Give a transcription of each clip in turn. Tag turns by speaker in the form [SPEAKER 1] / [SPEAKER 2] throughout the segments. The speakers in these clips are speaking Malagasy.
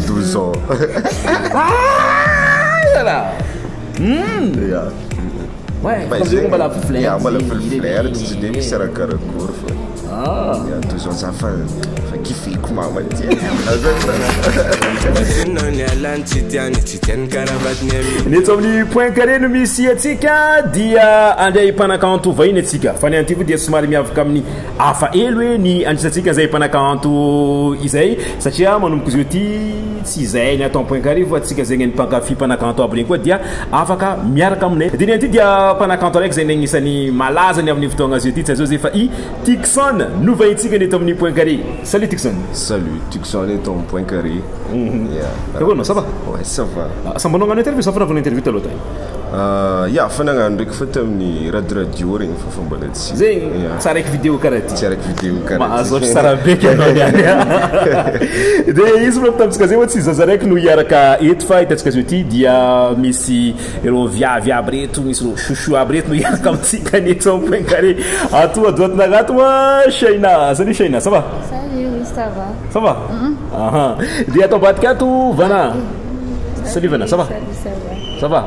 [SPEAKER 1] 12 ans. Yeah.
[SPEAKER 2] Ouais, Bah, parce que zegny- mbala
[SPEAKER 1] flerte, yeah, mbala
[SPEAKER 2] zegny, flerte,
[SPEAKER 1] ireny. tsy dia misy raha karakory fa. Ah. Yeah,
[SPEAKER 2] 12 ans za fa
[SPEAKER 1] fa kifiko mama ty. Zina ny alany tsy tiany
[SPEAKER 2] tsy tiany karavatiny ami Ny eto amin'ny point carré no misy antsika dia andray mpanakanto vahiny antsika fa ny antivo dia somary miavaka amin'ny Hafa ely hoe ny anisantsika izay mpanakanto izay satria manomboka izao ity tsy izay ny atao am-poinkarivony fa antsika zegny ny mpankafy mpanakanto aby regny koa dia afaka miaraka aminay. Diniha ity dia mpanakanto araiky izay agnisan'ny malaza ny amin'ny fotoagna azy ity tsy azao izay fa i Tucson no vahintsika ny eto amin'ny Poincaré. Salut Tucson! Salut, Tucson
[SPEAKER 1] eto amin'ny Poincaré. Ya.
[SPEAKER 2] Nahoana ma ça va? Ouais, ça va.
[SPEAKER 1] Asa mbô nagnano interview sa fa nanaovana
[SPEAKER 2] interview taloha tany? Ya,
[SPEAKER 1] fa nagnano ndraiky fa tamin'ny Rad Radio regny fa fa mbola tsy. Zegny, tsy araiky video
[SPEAKER 2] karaha ty. Tsy araiky video karaha ty. Mahazo
[SPEAKER 1] ôhatra tsara be ke
[SPEAKER 2] anao niany a. De izy manko tamintsika zay oa tsy zaza araiky no hiaraka eto fa hitantsika zao ity dia misy ireo viavy aby reto, misy ireo chouchou aby reto no hiaraka amintsika ny eto amin'ny point carré. Ato à droite nagnato oa Shaina. Salut Shaina, ça va? Salut, oui ça va.
[SPEAKER 3] Ça va?
[SPEAKER 2] Aha. De ato ambadika ato Vana. Salut Vana, ça va? Salut, ça va.
[SPEAKER 3] Ça va?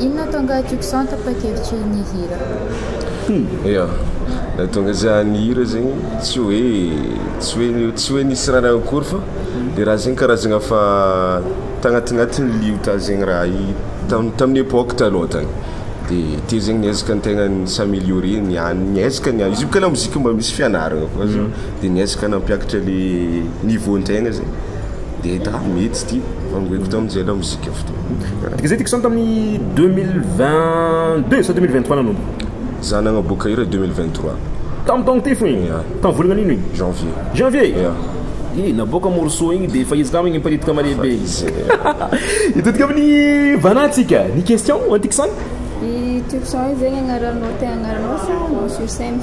[SPEAKER 2] Inona
[SPEAKER 3] hatonga ahy tiko saha tapa-kevitry ny hira? Ya,
[SPEAKER 1] ny hatonga za ny hira zegny tsy hoe tsy hoe tsy hoe nisy raha niany akory fa le raha zegny karazagna fa tagnatignatiny liota zegny raha i tam- tamin'ny epoque taloha tany de teo zegny niezaka ny tegna ni-s'améliorer niany niezaka niany izy io boka lamoziky mba misy fianaragna koa zany. Dia niezaka nampiakatra ilay niveau an-tegna zay. Dia hita ah mety ity, vangoiko tamin'izay lamozika fotoana. Izay Dixon tamin'ny 2022
[SPEAKER 2] sa 2023 nanomboka? Za nagnaboaka
[SPEAKER 1] hira 2023. Tamin'ny taogno ty
[SPEAKER 2] fo igny? Yeah. Tamin'ny volagna an'ino igny? Janvier. Janvier?
[SPEAKER 1] Yeah.
[SPEAKER 2] Eh, naboaka morceau igny dia efa izy kamo igny miparitika malehibe. Efa izy. Hitodika amin'ny Vana antsika. Ny question, Dixon? I Turson zegny agnaranao
[SPEAKER 3] tegna agnaranao sa nom sur scène?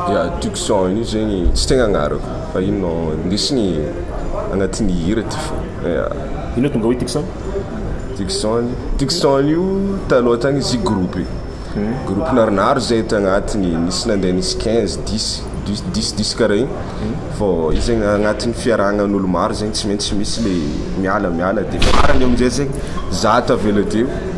[SPEAKER 3] Ya tiako
[SPEAKER 1] son io zegny tsy tegna agnarako fa ino no ndesiny agnatin'ny hira ty fo ya. Ino tonga
[SPEAKER 2] hoe Tucson? Tucson,
[SPEAKER 1] Tucson io taloha tagny izy groupe, groupe naronaro zay tagnatiny nisy nandeha nisy quinze, dix, dix, dix, dix karaha igny fô io zegny agnatin'ny fiarahagnan'ôlo maro zegny tsy maintsy misy le miala miala de farany amizay zegny za tavela teo.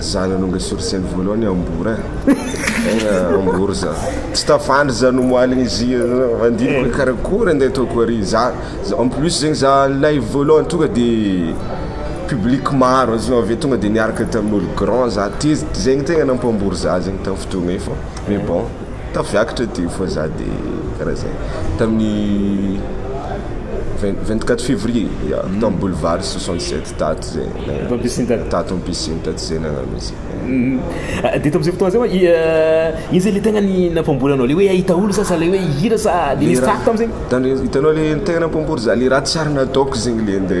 [SPEAKER 1] Zany aloha nga source ny voalohany ambour eh tegna ambour za tsy tafandry za nomoaliny izy andiniko hoe karakory ande ataoko ary za en plus zegny za live voalohany tonga de public maro zao aveo tonga de niaraka tamin'olo grand za teo zegny tegna nampambory za zegny tam fotoagna io fa mais bon. Tafiakatra ity fa za de karaha zay tamin'ny vingt vingt quatre fevrier ya tamy boulevard soixante sept tato zay tato am piscine tato tato am piscine tato zay nagnano izy zay de
[SPEAKER 2] tamzay fotoagna zay oa ino zay le tegna ny nampambolanao le hoe ahita olo sasa le hoe hihira sa de nisy tsaho tamzegny? Tandremo itanao le tegna
[SPEAKER 1] nampambory za le raha tsiary nataoko zegny le nde.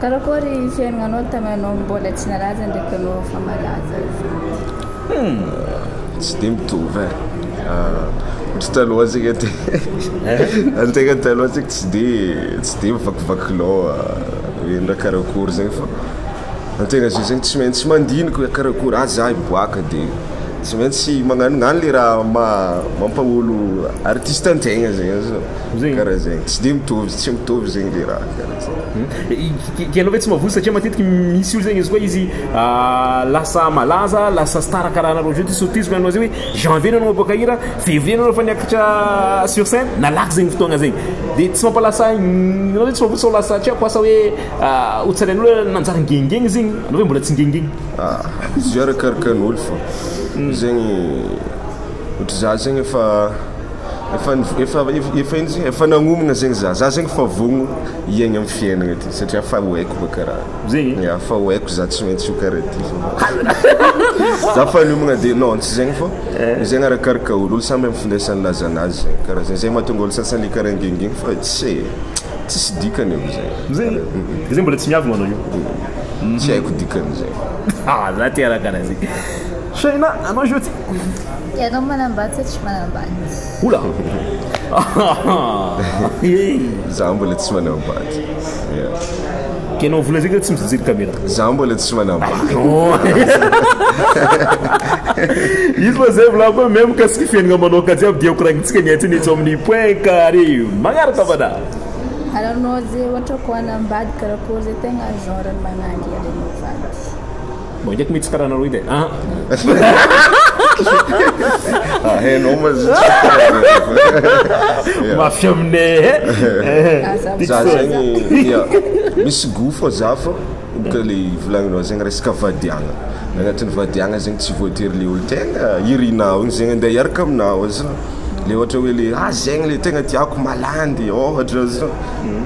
[SPEAKER 2] Karakory
[SPEAKER 3] fiainanao taminanao mbola tsy nalaza ndraiky anao efa malaza zao? Humm!
[SPEAKER 1] Tsy dia mitovy e! Ohatry taloha tsika ty antegna taloha tsika tsy dia tsy dia mivakivaky loha hoe na karakory zegny fa antegna zao zegny tsy maintsy mandinika hoe karakory ah za hiboaka de tsy maintsy magnanognano le raha maha mampaha-olo artista antegna zegny, karaha zegny, tsy dia mitovy tsy mitovy zegny le raha. Ianao ve tsy mavozo satria
[SPEAKER 2] matetiky misy olona zegny izy koa izy lasa malaza lasa star karaha anareo zao de surprise hoy anao zay hoe janvier anao maboaka hira fevrier anao efa niakatra sur scène nalaky zegny fotoagna zegny de tsy mampalasa ianao ve tsy mavozo sao lasa tsy haiko asa hoe ho tsarain'olona nanjary ngengeny izy igny anao ve mbola tsy ngengeny? Izy io
[SPEAKER 1] arakaraka ny olo fô zegny. Ohatry za zegny efa efa efa efa ino izy efa nagnomagna zegny za za zegny efa vogno hiaigna amin'ny fiainagna ty satria efa ho haiko baka raha zegny ia efa ho haiko
[SPEAKER 2] za tsy
[SPEAKER 1] maintsy ho karaha ty za efa niomagna de non tsy zegny fô eh. zegny arakaraka olo olo samy amin'ny findesany laza anazy zegny karaha zegny zay mahatonga olo sasany karaha ngingin fa tsy eh tsisy dikany io zay zegny zegny mbola tsy
[SPEAKER 2] miavogna anao io tsy haiko dikany
[SPEAKER 1] zay ah za te raha
[SPEAKER 2] karaha zegny. Sheina, anao izy io ty. Ianao
[SPEAKER 3] manambady sa tsy manambady? Oula!
[SPEAKER 1] Za mbola tsy manambady.
[SPEAKER 2] Kenao vola zay ka tsy mijery caméra. Za mbola tsy
[SPEAKER 1] manambady.
[SPEAKER 2] Izy moa zay volako hoe même mikasika fiainana manoka jiaby dia hokoragnitsika ny antsena etsy amin'ny point carré magnaraka fada. Ary anao
[SPEAKER 3] zay ohatra koa hanambady karakory zay tegna genre ny managy ary anao vavy. Mangeky
[SPEAKER 2] mitsy karana roy de ah. Ah
[SPEAKER 1] hainao ma zio.
[SPEAKER 2] Mafy aminay eh.
[SPEAKER 1] Za zegny ya misy goût fô za fô boka le volagninao zegny resaka vadiagna. Agnatin'ny vadiagna zegny tsy voatery le olo tegna irinao igny zegny andeha hiaraka aminao ozy le ohatra hoe le ah zegny le tegna tiako malandy ôhatra ozy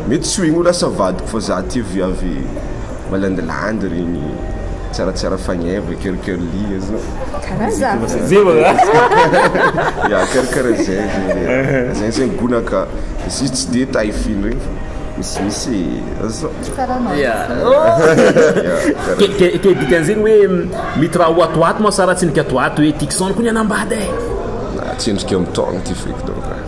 [SPEAKER 1] mety tsy ho igny ho lasa vadiko fa za tia viavy malandilandy regny tsaratsara fagneva coeur coeur lia zao karaza ya coeur coeur zay zay zay gona ka izy tsy de taille fine regny fa misy misy zao ya
[SPEAKER 2] ke dikan'zegny hoe mitra ho ato ho ato moa sa raha tsy nikatoato hoe tixon ko ny anambady e tsendrika
[SPEAKER 1] mitogno ty feky donc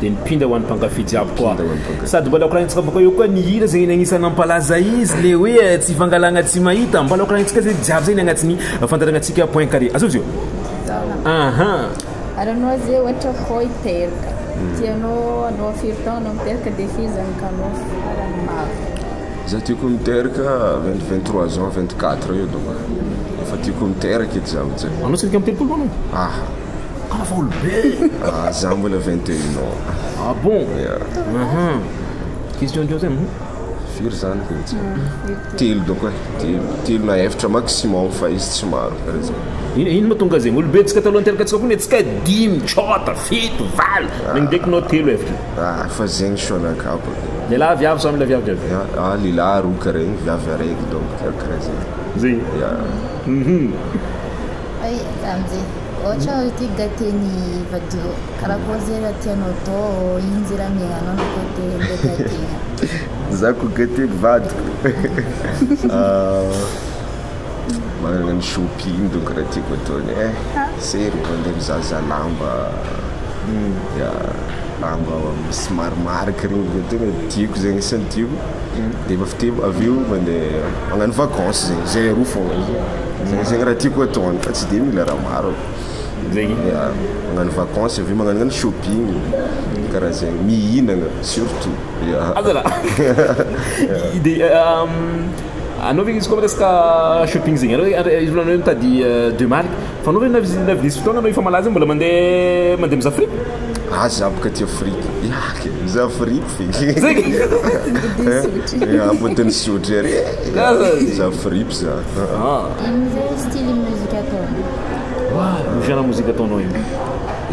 [SPEAKER 1] Dia nipinda
[SPEAKER 2] ho an'ny mpankafy jiaby koa. Sady mbola koranintsika bôka eo koa ny hira zay ny agnisan'ny nampalaza izy le hoe eh, tsy fangalagna tsy mahita. Mbola koranintsika zay jiaby zay ny agnatin'ny fandaranantsika point carré. Azontsy io? Aha.
[SPEAKER 3] Ary anao zay ohatra foy teraka hmm. tianao anao afiry taona anao miteraka dia firy zany kanao farany maro za tiako
[SPEAKER 1] miteraka 23 ans 24 eo donc efa tiako miteraka edy za amin'izay anao tsy midika mitelopolo anao
[SPEAKER 2] ah Afaolo be! Ah, za mbola 21
[SPEAKER 1] ans. Ah bon?
[SPEAKER 2] Yeah. Aha. Question teo zay. Mhm. Firy zany
[SPEAKER 1] ko tsy? Telo doko e. Telo, telo na efatra maximum fa izy tsy maro karaha zay. Ino ino moa tonga zegny? Olobe
[SPEAKER 2] tsika talohan'ny terakatsika koa netsika dimy, tsôta, fito, valo. Nagny ndraiky nao telo efatra. Ah, fa zegny soa anakah
[SPEAKER 1] bôka. Lehilahy viavy sa
[SPEAKER 2] mila viavy jiaby? Ya, ah, lehilahy roa
[SPEAKER 1] karaha igny, viavy araiky donc karaha zay. Zegny. Yeah. Mhm.
[SPEAKER 3] Ay Ramze, ohatra hoe ity gate ny vadio, karakory ze raha tianao atao ao, ino ze raha miaignanao na koa te ndray gate-gna. Za ko gate
[SPEAKER 1] ny vadiko manana ny shopping donc raha tiako atao ny eh zero vao ndeha mizahazaha lamba ya lamba somary marque regny vao tegna tiako zegny isan'ny tiako de avy teo avy eo mandeha magnano vacance zegny zay aroa fogna. Zegny zegny raha tiako atao any fa tsy de mila raha maro e, ya
[SPEAKER 2] magnano
[SPEAKER 1] vacance avy eo magnanonano shopping karaha zegny, mihinagna surtout ya Aza
[SPEAKER 2] raha de anao ve izy koa resaka shopping zegny anao re izy volanao hoe mitady deux marque fa anao ve na visi- na visy fotoagna anao efa malaza igny mbola mandeha mandeha mizaha fripy? Ah
[SPEAKER 1] za boka tia fripy, ya kay mizaha fripy Ampodian'ny sotry ery e! Za fripy za. Amin'izay
[SPEAKER 3] style musique ataonao? Wa, ny fiana mozika ataonao
[SPEAKER 2] iny.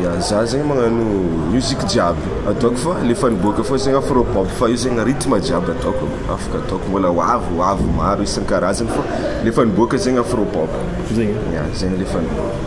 [SPEAKER 2] Ya, za
[SPEAKER 1] zegny magnano musique jiaby ataoko fa le efa niboaka fao zegny afro pop fa io zegny rythme jiaby ataoko, afaka ataoko mbola ho avy ho avy maro isan-karazany fa le efa niboaka zegny afro pop. Zegny? Ya,
[SPEAKER 2] zegny le efa
[SPEAKER 1] niboaka.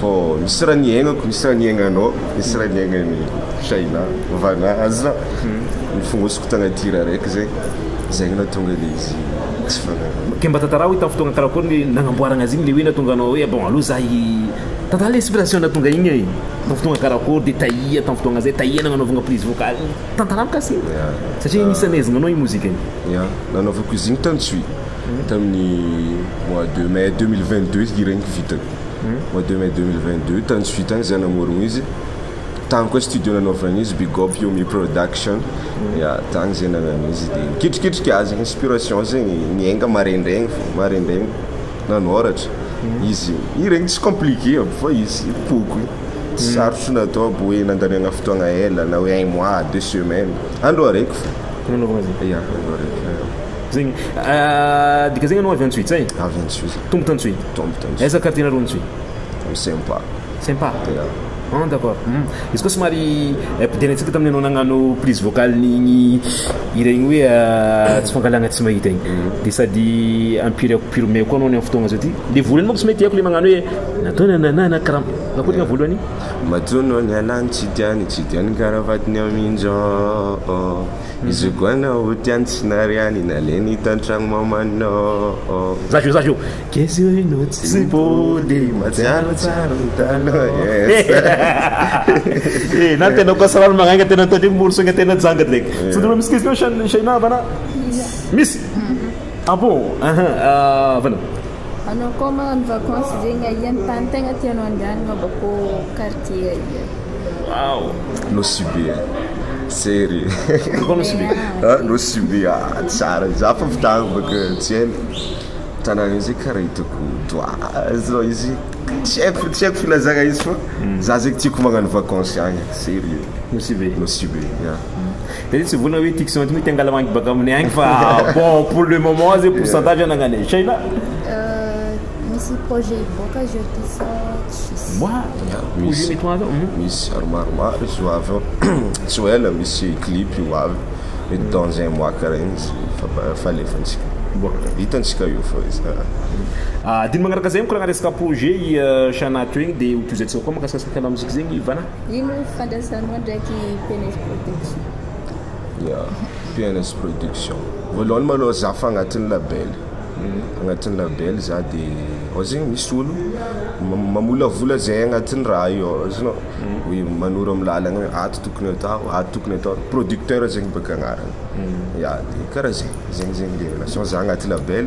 [SPEAKER 1] fô misy raha niaignako, misy raha niaignanao, misy raha niaignan'i Shaina, Vana, Azra, nifongosiko tagnaty hira araiky zay, zegny nahatonga le izy tsy fanaraka. Ke mba tantarao hoe tamin'ny fotoagna
[SPEAKER 2] karakory ny nagnamboaragna azy igny, le hoe nahatonga anao hoe bon aleo za hi tantara le inspiration nahatonga igny e, tamin'ny fotoagna karakory de taia tamin'ny fotoagna zay, taia nagnanaovagna prise vocale igny, tantara mikasika igny satria izy nisy nanezagnanao igny mozika igny. Ya, nanaovako izy
[SPEAKER 1] igny tantsoy. tamin'ny mois de mai deux mille vingt deux hira iny vitany mois de mai deux mille vingt deux tany tsy vitany za namorogna izy tany koa studio nanaovagna izy big up yomi production ya tany zay nagnano izy de nikitrikitriky azy inspiration zegny niainga maraindraigny fô maraindraigny nanoratra izy hira igny tsy compliqué aby fa izy pokoy tsy sarotro natao aby hoe nandaniagna fotoagna ela na hoe un mois deux semaines andro araiky fô nanaovagna azy ya andro
[SPEAKER 2] araiky.
[SPEAKER 1] Zegny
[SPEAKER 2] dika zegny anao avy Antsohihy zay? Avy Antsohihy. Tombo
[SPEAKER 1] t'Antsohihy? Tombo
[SPEAKER 2] t'Antsohihy. Aiza quartier nareo Antsohihy? Am Sempa.
[SPEAKER 1] Sempa? Ya. Ah
[SPEAKER 2] d'accord. Izy koa somary ampidera antsika tamin'ny anao nagnano prise vocale n'igny hira igny hoe tsy fangalagna tsy mahita igny. De sady ampiry ampiromeo koa anao ny am fotoagna zao ty. Le volany manko tsy mety haiko le magnano hoe natoa nananana karaman Akory nga voalohany? Matoa nao
[SPEAKER 1] niala ny tsy tiany, tsy dia nikaram-patiny amin-jao. Izogo anao ho tiany tsy nariany Naleny hita an-tragno mamanao Zaza io, zaza io
[SPEAKER 2] Keza io ianao tsy nipody Mahatsiaro tsara
[SPEAKER 1] ny taloha Eeh
[SPEAKER 2] na ny tena kosa rano magnainga Tena ataon'io ny moro sainga tena janga Dia tsy tena misy question Shaina va na? Misy? Ah bon! Ahaa! Aah! Vana!
[SPEAKER 3] Anao koa magnano
[SPEAKER 2] vacances zegny
[SPEAKER 1] aia ny tany tegna tianao andehanagna mbô kô quartier aia? Waouh Nosy Be a Tseri Koa Nosy Be a Nosy Be a tsara za fa avy tagny bôka tsy ela tanagna izy io kara hitako doha zao izy tsy aiko tsy aiko filazagna izy fô za zegny tiako magnano vacances agny serieux Nosy Be Nosy Be ya. Dia tsy vonona
[SPEAKER 2] hoe ity kizilahy ity mety hangala mangy baka aminay any fa bon pour le moment zay pourcentage anagnanay. Shaina?
[SPEAKER 3] Misy projet hivoaka azy eo ity sa tsisy?
[SPEAKER 1] Wa, projet mety ho azo ao. Misy ary maromaro izy ho avy ao. Tsy ho ela misy clip ho avy, mety dans un mois karaha igny izy fa efa alefantsika. Vita antsika io fa izy a. Adino
[SPEAKER 2] magnaraka zay mikoragnana resaka projet i Shaina teo igny dia ho tohizaintsika koa mahakasika Scanam Music zegny Ivana.
[SPEAKER 3] Ino ny fifandraisanao
[SPEAKER 1] ndraiky PNS Production? Ya, PNS Production. Voalohany malôha za fa agnatin'ny label, agnatin'ny label za de ao zegny misy olo mamolavola zay agnatin'ny raha io ao azonao, hoe manoro amin'ny lalagna hoe ato tokony atao, ato tokony atao, producteur zegny bôka agnarany, ya de kara zegny, zegny zegny le relation za agnaty label.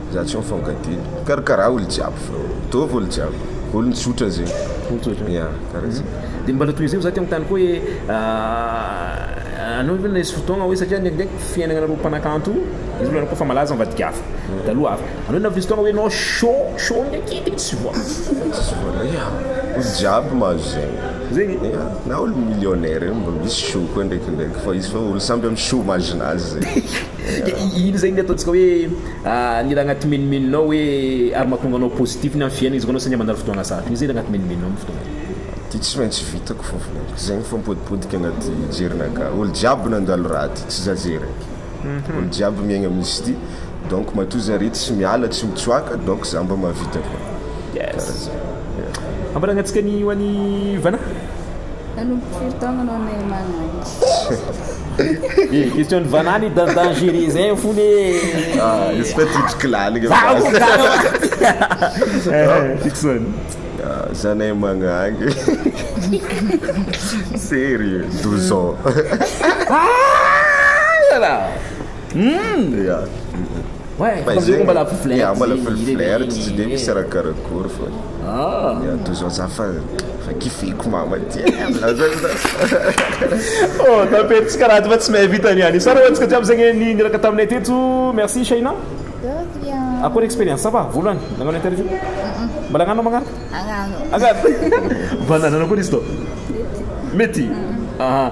[SPEAKER 1] Za tsy mifankatia. Karakaraho olo jiaby fa. Mitovy olo jiaby. Olony tsotra zegny. Olony tsotra. Ya, karaha zegny. Dia mbola tohizo eo za te
[SPEAKER 2] manontany koa hoe anao ve nisy fotoagna hoe satria ndraindraiky fiainagnanareo mpanakanto io izy efa malaza mivadika hafa taloha hafa anao navy nisy fotoagna hoe anao chaud chaud ndraiky dia tsy voa Tsisy voa ya
[SPEAKER 1] olo jiaby mahazo zegny. Zegny? Ya,
[SPEAKER 2] na olo
[SPEAKER 1] millionnaire io mba misy chaud koa ndraikindraiky fa izy fa olo samby am chaud mazin'azy zegny. Dia iny izay ny ataontsika hoe
[SPEAKER 2] ny raha anaty menomenonao hoe ary mahatonga anao positif ny amin'ny fiainana izy koa anao saingy mandalo fotoagna sarotra iny izay raha anaty menomenonao amin'ny fotoagna iny. Ty tsy maintsy
[SPEAKER 1] vitako fa volaiko ty zay mifampodipodika anaty jerinaka olo jiaby nandalo raha ty tsy za zay raiky olo jiaby miaigna amin'izy ty donc matoa zare tsy miala tsy mitsoaka donc za mba mahavita koa kara zay
[SPEAKER 2] yeah. Ambaragna antsika ny ho an'i Vana. Nanomboka
[SPEAKER 3] firy taona anao Neymar Nike?
[SPEAKER 2] Question de vanani dans dangereux zay fony e. Ah, izy
[SPEAKER 1] fa titriky laligna. Fiction.
[SPEAKER 2] Ah,
[SPEAKER 1] zanay magnangy. Sérieux, 12 ans. Ah, là là. Hmm. Yeah.
[SPEAKER 2] Fa izay mbola flirt
[SPEAKER 1] tsy dia misy raha karakory fa ny ato zao za fa kifiko mama ty
[SPEAKER 2] Oh tapety tsy karaha ato fa tsy mahay vita ny any. Tsara ho antsika jiaby zegny ny niraka taminay teto. Merci Shaina. De rien. Akory experience va voalohany nagnano interview? Mbola agnano magnaraka? Agnano. Agnano. Banane akory izy tô? Mety? Mety. Aha.